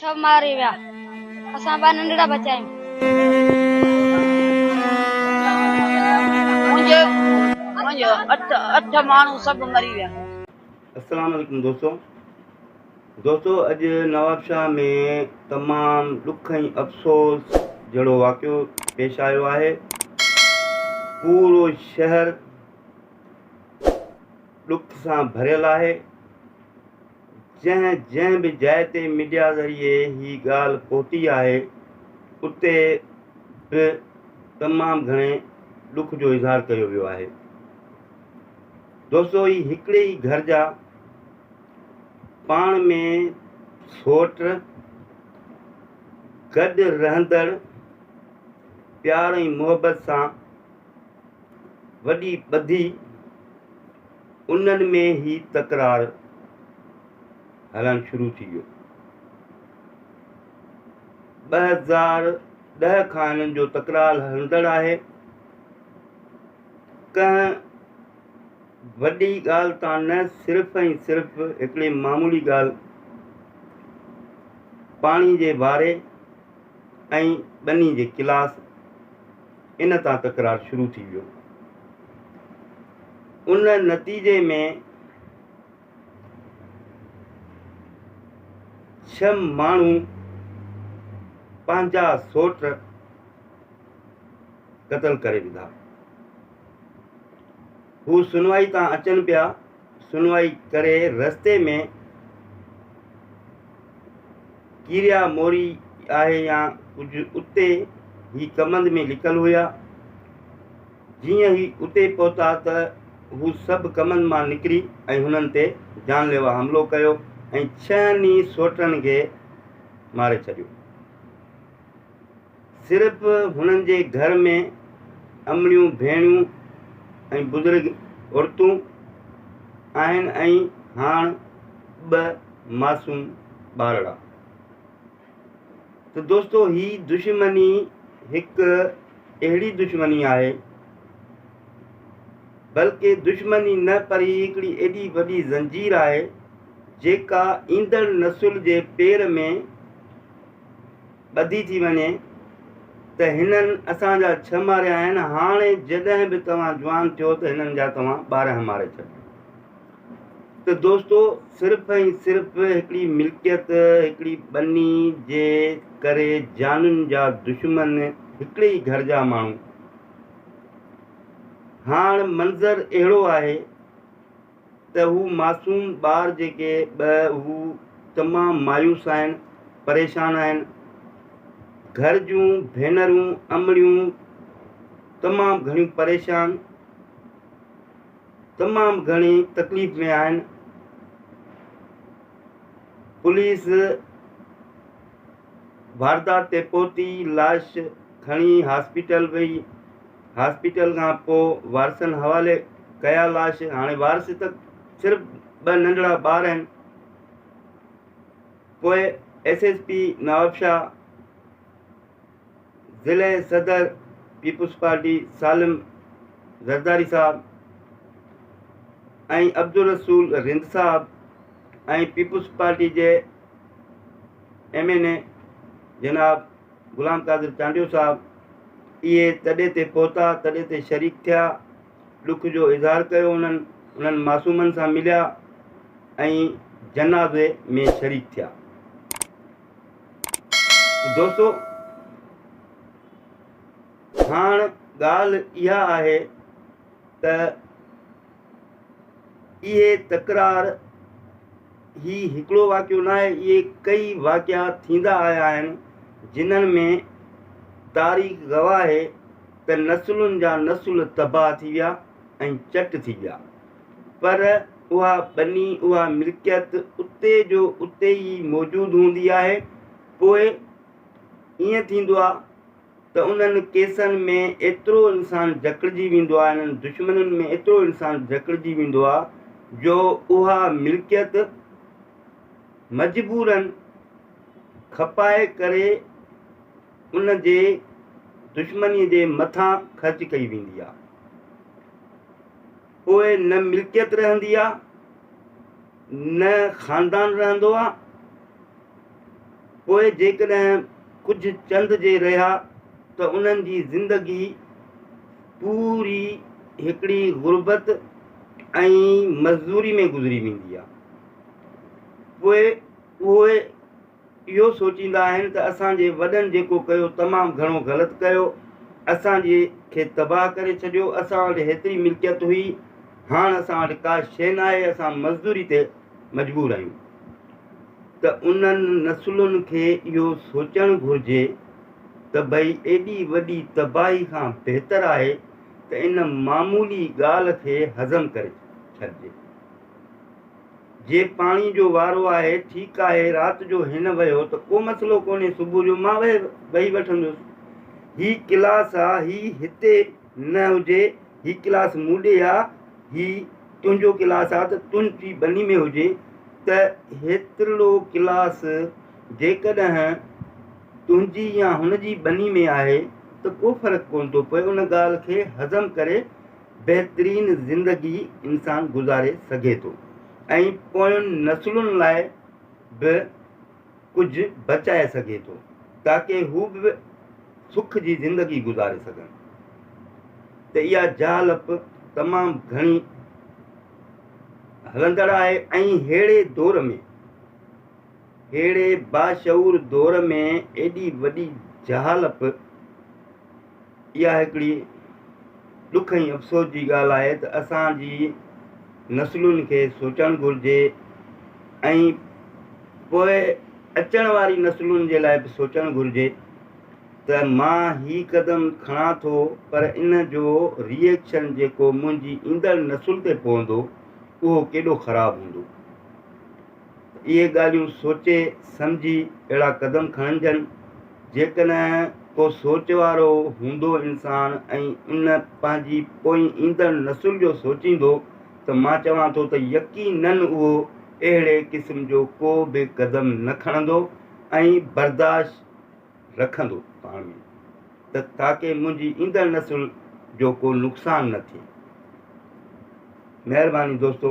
سڀ ماري ويا اسان ٻه ننڍڙا بچا آهيون. منهنجي اٺ ماڻهو سڀ مري ويا. السلام عليڪم دوستو دوستو اڄ نوابشاهه ۾ تمام ڏک ۽ افسوس جهڙو واقعو پيش آيو آهي پورو شهر ڏک سان ڀريل آهي جنهن جنهن به جاء تي ميڊيا ذريعي هي ڳالهه پهتي آهي اتي به تمام گهڻي ڏک جو اظهار ڪيو ويو آهي. دوستو هي هڪڙي ئي گهر جا پاڻ ۾ سوٽ گڏ رهندڙ پيار ۽ محبت سان وڏي ٻڌي، انهن ۾ هي تڪرار هلڻ شروع ٿي ويو. ٻه هزار ڏهه کان هنن جو تڪرار هلندڙ آهي. ڪنهن وڏي ڳالهه تان نه صرف ۽ صرف هڪڙي معمولي ڳالهه پاڻي جي باري ۽ ٻني جي ڪلاس ان تان تڪرار شروع ٿي ويو. ان نتيجي ۾ ڇهه ماڻهو پنهنجا سوٽ قتل ڪري وڌا. هو سنوائي تان اچن پيا سنوائي ڪري رستي ۾ ڪيريا موري آهي يا ڪجهه اتي هي ڪمند ۾ لڪل هيا. جيئن هي اتي پهتا ته هو سڀ ڪمند مان نڪري ۽ هنن تي جان ليوا حملو ڪيو ۽ ڇهن ئي سوٽن کي ماري ڇڏيو. صرف هنن جي گهر ۾ امڙيون ڀيڻيون ۽ بزرگ عورتون آهن ۽ هاڻ ٻه معصوم ٻارڙا. ته دوستو هي دشمني هڪ اهڙي دشمني آهي بلڪه دشمني نه پر هي هڪڙي ايڏي وڏي زنجير آهي جيڪا ايندڙ نسل جي پير ۾ ٻڌي ٿي وڃي ته هنن اسان جا ڇهه ماريا آهن، هاڻي جڏهن به توهان جوان ٿيو ته هنن جا توهان ٻارهن ماري ڇڏيو. ته دوستو صرف ۽ صرف هڪڙي ملڪيت، هڪڙي ٻني جي ڪري جانين جا دشمن هڪڙي ئي گهر جا ماڻهو. هاڻ منظر اهڙو آهي. ته هو معصوم ٻار جيڪي به هو تمام مايوس آهن پريشان آهن گهر جون ڀينرون امڙيون تمام گهڻيون پريشان تمام گهڻي تڪليف ۾ آهن پوليس واردات تي پهتي لاش کڻي هاسپيٽل وئي هاسپيٽل کان پو وارثن حوالي ڪيا لاش هاڻي وارث ته صرف ٻه ننڍڙا ٻار آهن پوء ايس ايس پي نوابشاهه ضلعي صدر پيپلز پارٽي سالم زرداري صاحب ۽ عبدالرسول رند صاحب ۽ پيپلز پارٽي جي ايم اين اي جناب غلام قادر چانڊيو صاحب اهي تڏي تي پهتا تڏي تي شريڪ ٿيا ڏک جو اظهار ڪيو انهن انهن معصومن سان مليا ۽ جنازي ۾ شريڪ ٿيا دوستو هاڻ ڳالهه اها آهي ته اهي تڪرار هي هڪڙو واقعو ناهي اهي ڪئي واقعا ٿيندا آيا آهن جنهن ۾ تاريخ گواهه آهي ته نسلن جا نسل تباهه ٿي ويا ۽ چٽ ٿي ويا پر اها ٻني اها ملڪيت اتي جو اتي ئي موجود هوندي آهي پوء ائين ٿيندو آهي ته انهن ڪيسن ۾ ايترو انسان جڪڙجي ويندو آهي، انهن دشمنين ۾ ايترو انسان جڪڙجي ويندو آهي جو اها ملڪيت مجبوراً کپائي ڪري ان جي دشمنيء جي مٿان خرچ ڪئي ويندي آهي. پوء نه ملڪيت رهندي آ نه خاندان رهندو آ پوء جيڪڏهن ڪجهه چند جي رهيا ته انهن جي زندگي پوري هڪڙي غربت ۽ مزدوري ۾ گذري ويندي آ پوء اهي اهو سوچيندا آهن ته اسان جي وڏن جيڪو ڪيو تمام گهڻو غلط ڪيو اسان جي کي تباهه ڪري ڇڏيو اسان وٽ هيتري ملڪيت هئي هاڻ اسان وٽ ڪا شيء ناهي اسان مزدوري تي مجبور آهيون ته انهن نسلن کي اهو سوچڻ گهرجي ته ڀئي ايڏي وڏي تباهي کان بهتر آهي ته ان معمولي ڳالهه کي هضم ڪري ڇڏجي. جي پاڻي جو وارو آهي ٺيڪ آهي رات جو هن وهيو ته ڪو مسئلو ڪونهي صبح جو مان وهي وٺندس هي ڪلاس آ هي هتي نه هجي هي ڪلاس مون ڏي آ هي تنهنجو ڪلاس آ ته تنهنجي ٻني ۾ هجي ته هيترلو ڪلاس جيڪڏهن تنهنجي يا هن جي ٻني ۾ آهي ته ڪو فرق ڪونه ٿو پوي ان ڳالهه کي هضم ڪري بهترين زندگي انسان گذاري سگهي ٿو ۽ پوين نسلن لاء به ڪجهه بچائي سگهي ٿو تاڪه هو به سک جي زندگي گذاري سگهن ته اها جهالپ تمام گهڻي هلندڙ آهي ۽ ههڙي دور ۾ ههڙي باشعور دور ۾ ايڏي وڏي جهالپ اها هڪڙي ڏک ۽ افسوس جي ڳالهه آهي ته اسان جي نسلن کي سوچڻ گهرجي ۽ پوء اچڻ واري نسلن جي لاء به سوچڻ گهرجي ته مان هي قدم کڻان ٿو پر ان جو ري ايڪشن جيڪو منهنجي ايندڙ نسل تي پوندو اهو ڪيڏو خراب هوندو. اهي ڳالهيون سوچي سمجهي اهڙا قدم کڻجن، جيڪڏهن ڪو سوچ وارو هوندو انسان ۽ ان پنهنجي پوئين ايندڙ نسل جو سوچيندو ته مان چوان ٿو ته يقيناً اهو اهڙي قسم جو ڪو به قدم نه کڻندو ۽ برداشت رکندو پاڻ ۾ ته تاڪه منهنجي ايندڙ نسل جو ڪو نقصان نه ٿئي. مهرباني دوستو.